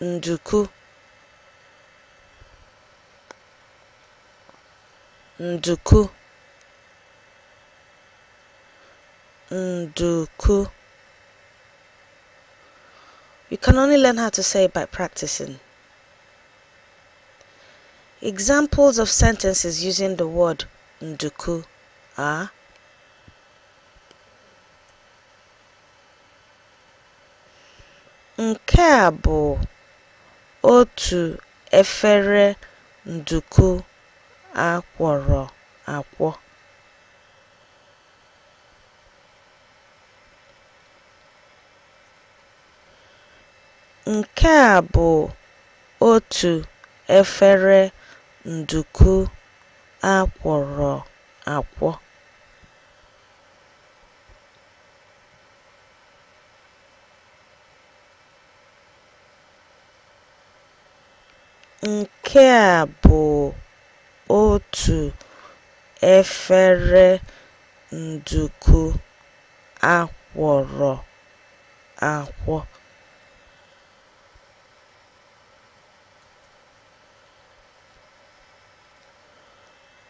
nduku nduku nduku You can only learn how to say it by practicing. Examples of sentences using the word nduku are Nke a bụ otu efere nduku a kwọrọ akwọ. Nke a bụ otu efere nduku a kwọrọ akwọ. Nke a bụ otu efere nduku a kwọrọ akwọ.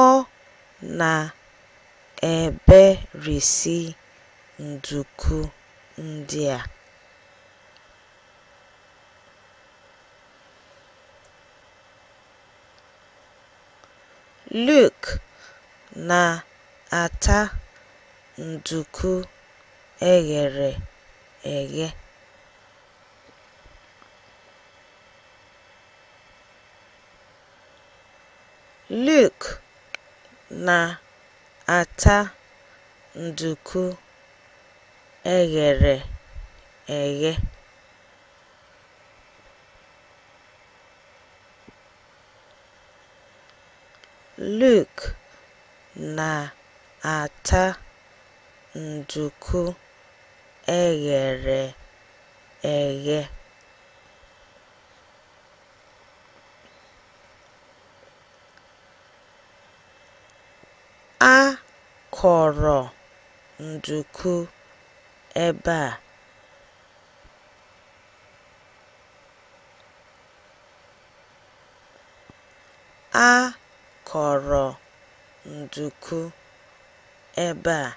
Ọ na-eberisi nduku ndị a. Luke na-ata nduku e ghere eghe. Luk na-ata nduku e ghere eghe. Luk na-ata nduku e ghere eghe. A kọrọ nduku ebe a. A kọrọ nduku ebe a.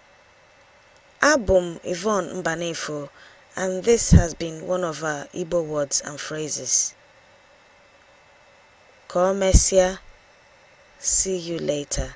Abụ m Yvonne Mbanefo and this has been one of our Igbo words and phrases. Ka o mesịa, see you later.